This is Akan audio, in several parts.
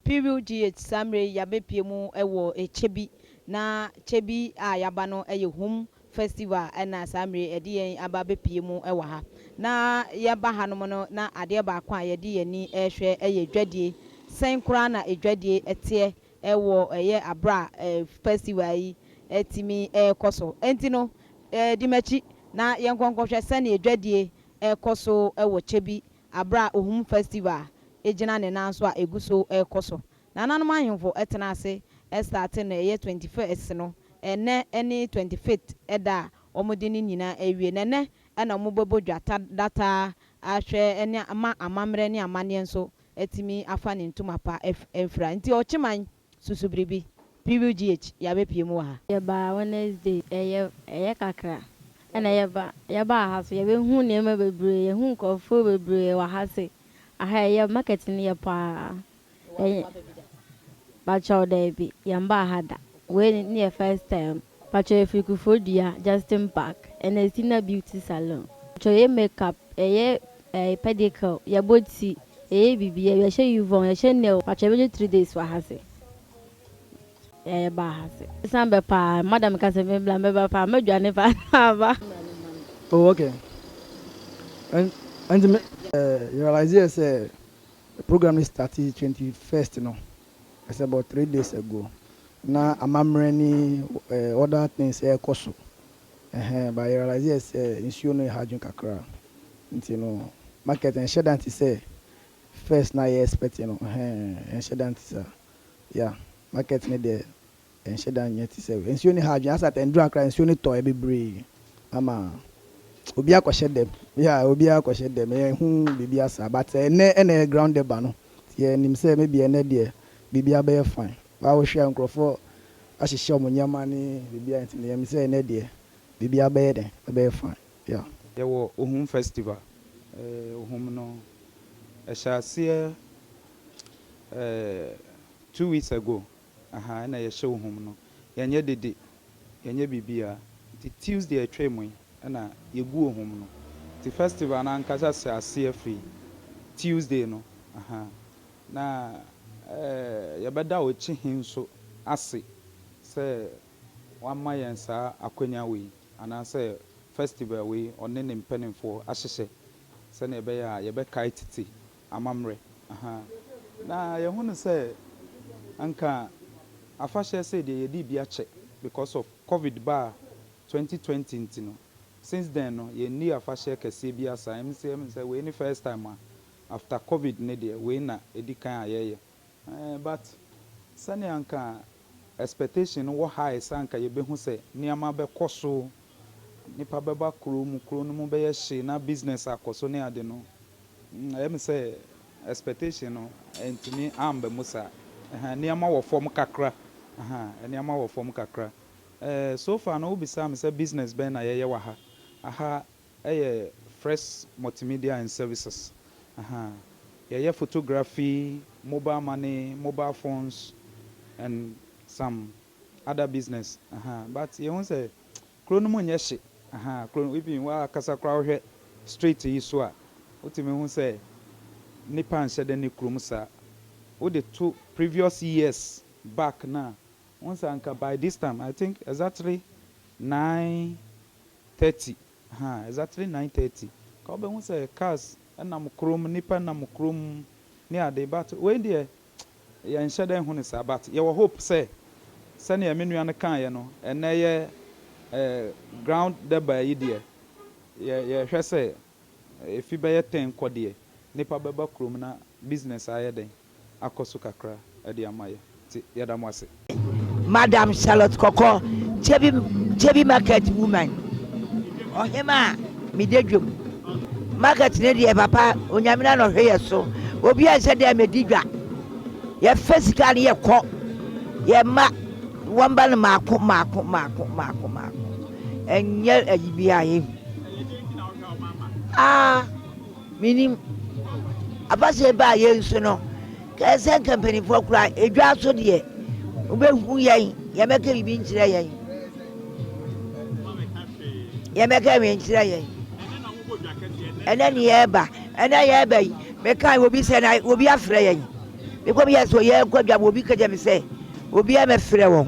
Period GH, Saa mmerɛ yi yabɛpue mu wɔ kyɛ bi na kyɛ bi a yaba no yɛ Hum Festival na saa mmerɛ yi ɛde yɛn aba abɛpue mu wɔ ha. Na yɛba hanom no na adeɛ baako a yɛde yɛn ani rehwɛ yɛ dwadie. Sɛn koraa na dwadie teɛ wɔ ɛyɛ aberɛ a festival yi tumi rekɔ so. Ɛnti no di m'akyi na yɛnkɔ nkɔhwɛ sɛdeɛ dwadie rekɔ so wɔ kyɛ bi Bere a Ohum Festival gyina ne nan so a egu so rekɔ so. Nananom ahemfo tena ase starte no ɛyɛ twenty first no, ɛnnɛ ne twenty fifth da a wɔde ne nyinaa awie. Na ɛnnɛ na wɔbɛbɔ dwa ta dataa ahwɛ ne ama amammerɛ ne amanneɛ nso atumi afa ne ntoma pa afira. Nti ɔkyeman. Susu biribi, PUGH, yɛabɛpue mu wɔ ha. Yɛbaa Wednesday, ɛyɛ, ɛyɛ kakra, ɛna yɛba, yɛbaa ha so, yɛbɛhu nneɛma bebree, yɛahu nkorɔfoɔ bebree wɔ ha se, aha ɛyɛ, market no yɛ paa, yɛn, pakyɛw daabi, yɛmbaa ha da, wei ne yɛ first time, pakyɛw yɛfiri Kufuor Dua, Justin Park, ɛna ɛsi na Beauty Salon, pakyɛw yɛ makeup, ɛyɛ Ɛɛ pedicure, yɛbɔ ti, yɛyɛ biribiaa, yɛhyɛ yuvɔn, yɛhyɛ nail, pakyɛ yɛbɛyɛ three days wɔ ha se ɛɛ yɛbaa ha se. San bɛ paa, madam ka sɛ me bla mɛba paa, mɛdwane paa na maba. Oh ok, ɛn ɛnti me. Ɛɛ yɛ realise yɛ sɛ program no starte twenty first no, it's about three days ago, na amammerɛ ne ɛɛ other things ɛɛkɔ so, Ɛhɛɛ but yɛ realiseɛ sɛ nsuo no yɛ hard dwen kakra nti no market ɛnhyɛ da nte sɛ first no a yɛ expect no ɛhɛɛ ɛnhyɛ da nte saa yeah market no deɛ ɛnhyɛ da nyɛ te sɛ wei nsuo no hard dwen asɛ at ɛnduru ha koraa nsuo no tɔɛ bebree ama obi akɔhyɛ dɛm yeah obiara akɔhyɛ dɛm yɛnhu biribiara saa but ɛnɛ ɛna ɛyɛ ground ɛba no nti yɛnim sɛ maybe ɛnɛ deɛ biribiara bɛyɛ fine. Baa wohwɛ a nkurɔfoɔ ahyehyɛ wɔn nneɛma ne biribiara nti no yɛnim sɛ ɛnnɛ deɛ biribiara bɛyɛ dɛn? Ɛbɛyɛ fine. Yeah. Yɛwɔ Ohum Festival. Eh, Ohum no, ɛhyɛ aseɛ eh, two weeks ago, aha, ɛna yɛhyɛ Ohum no. Yɛnyɛ dede, yɛnyɛ biribiara. Nti Tuesday a ɛtwaam yi ɛna yɛgu Ohum no. Nti festival no ankasa hyɛ aseɛ firi Tuesday no, aha. Na yɛbɛda wo akyi he nso ase sɛ wama yɛn saa akwanya wei, anaasɛ fɛstival wei, ɔne ne mpaninfoɔ ahyehyɛ sɛnea ɛbɛyɛ a yɛbɛkae tete amammerɛ. Ahaa. Na yɛhunu sɛ anka afahyɛ sei deɛ yɛdii bi akyɛ because of covid baa 2020 nti no, since then no yɛnnii afahyɛ kɛseɛ biaa saa, ɛm sɛ wei ne first time a After covid no deɛ wei na ɛdi kan a yɛyɛ. Ɛɛ but sɛnea anka expectation no wɔ high sɛ anka yɛbɛhu sɛ nneɛma bɛkɔ so, nnipa bɛba kuro mu, kuro no mu bɛyɛ hye na business akɔ so ne ade no, ɛyɛ me sɛ expectation no antumi amba mu saa. Ɛhaa nneɛma wɔ fam kakra, ahaa nneɛma wɔ fam kakra. Ɛɛ so far no wobisaa me sɛ business bɛn na yɛyɛ wɔ ha, aha Ɛyɛ Fresh Multimedia and Services. Yɛyɛ photography, mobile money, mobile phones and some other business but yɛhu sɛ kuro no mu nyɛ hye kuro no even woakasa koraa wohwɛ street yi so a wotumi hu sɛ nnipa nhyɛ da nni kurom saa. Wode to previous years back no a wohu sɛ anka by this time I think exactly nine thirty ha exactly nine thirty nka wobɛhu sɛ cars nam kurom nnipa nam kurom ne ade but wei deɛ yɛnhyɛ da nhu no saa but yɛwɔ hope sɛ sɛdeɛ me nua no kaeɛ no ɛnɛ yɛ eh, ground deba yi deɛ yɛ yɛhwɛ sɛ efi bɛyɛ ten kɔ deɛ nnipa bɛba kurom na business ayɛ dɛn. akɔ so kakra de ama yɛ nti yɛda mo ase. Madam Charlotte Kɔkɔ, Kyebi Kyebi market woman, ɔhema a me da dwom. Market no deɛ papa Onyame na na ɔhwɛ yɛ so, obi anhyɛ da me di dwa. Yɛ fɛ sika no yɛ kɔ, yɛ ma wɔn ba no maako maako maako maako maako. Ɛnyɛ ayi bi a yɛ hu. Ah. Minim afahyɛ yi baa yɛn so no, kɛyɛ sɛ nka mpanyinfoɔ koraa edwaa so deɛ wobɛhu yɛn, yɛn bɛka biribi nkyerɛ yɛn, yɛn bɛka yɛn nkyerɛ yɛn. Ɛnɛ ne yɛreba, ɛnɛ yɛreba yi, meka yi obi sɛ na obi afrɛ yɛn. Mekɔ bi yɛ sɛ yɛn kɔ dwa obi kɛgya mi sɛ obi a mɛfrɛ wɔn.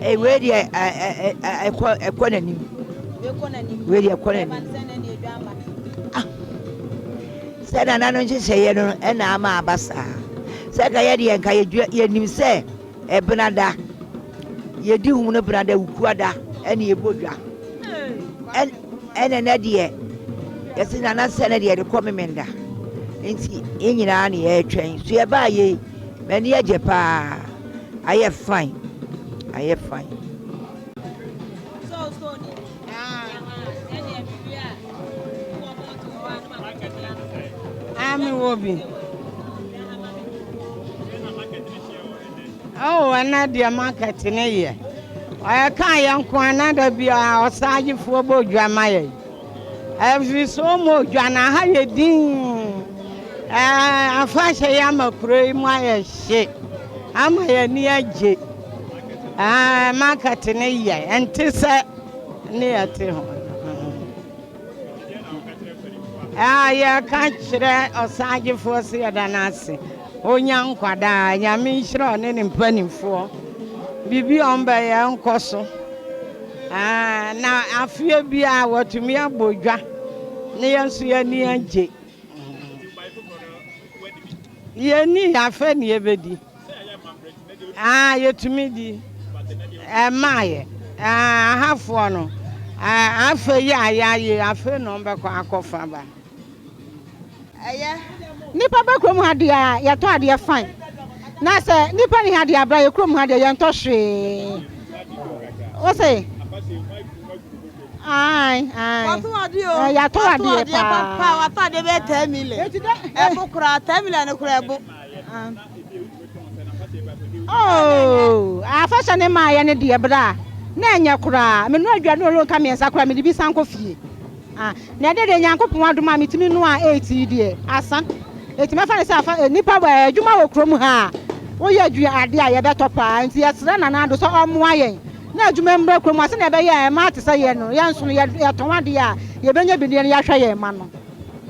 Ei wei deɛ ɛkɔ ɛkɔ n'anim. Wei deɛ ɛkɔ n'anim. Ah, sɛ nana no nhyehyɛeɛ no ɛna ama aba saa. Sɛ nka yɛ deɛ nka yɛdua yɛnim sɛ ɛbena da yɛdi hum no bena da wukua da ɛne ɛbɔ dwa. Ɛnɛ nɛ deɛ yɛsi nana sɛ ne deɛ de kɔ memenda nti yɛn nyinaa ne yɛretwɛn so yɛbaa yei. M'ani agye paa ayɛ fine ayɛ fine. Ami wobi. Oh, ɛna deɛ market ne yɛ. Ɔyɛ kaa yɛ nko anada biara ɔsaajefoɔ bɔ dwa ma yɛ. Ɛfiriso mo dwa na ha yɛ din ɛɛ afahyɛ yi ama kuro yi mu ayɛ hye ama yɛ ni agye ɛɛ market ne yɛ ɛnte sɛ ne yɛ te ho ɛɛ yɛ ka kyerɛ ɔsagyefoɔ sɛ yɛda no ase Onya nkwa daa nyame nhyira ɔne ne mpaninfoɔ biribi a ɔmo bɛyɛ nkɔso aah na afeɛ biaa watumi abɔ dwa na yɛn nso yɛn ani agye yɛn ni afɛ ne yɛbɛdi aah yɛtumi di ɛmaayɛ aah ahafoɔ no aah afɛ yi a yɛayɛ afɛ na ɔmo bɛkɔ akɔfa ba. Ɛyɛ nipa ba kurom ha deɛ a yɛtɔ adeɛ fine na sɛ nipa ni ha deɛ abra yɛ kurom ha deɛ yɛntɔ hwee wose ae ae yɛatɔ adeɛ paa watɔ adeɛ bɛyɛ ten million ɛbo koraa ten million no koraa ɛbo oh afɛhyɛ ne maa yɛ ne deɛ bra na ɛnyɛ koraa menura aduane ɔlɔ nka mmiɛnsa koraa mede bi san kɔ fie A Na ɛdɛ deɛ Nyankopɔn adom a metumi noa eight yi deɛ asa. Enti mɛfa no sɛ afa eh, nnipa wɔ eh, adwuma wɔ kurom ha a, woyɛ adwia adeɛ a yɛbɛtɔ paa. Enti yɛsrɛ Nana Addo sɛ ɔmmoa yɛn na adwuma mmra kurom ha sɛdeɛ ɛbɛyɛ a ɛmma te sɛ yɛn no, yɛn nso no, yɛtɔn adeɛ a, yɛbɛnya bi na yɛahwɛ yɛn mma no.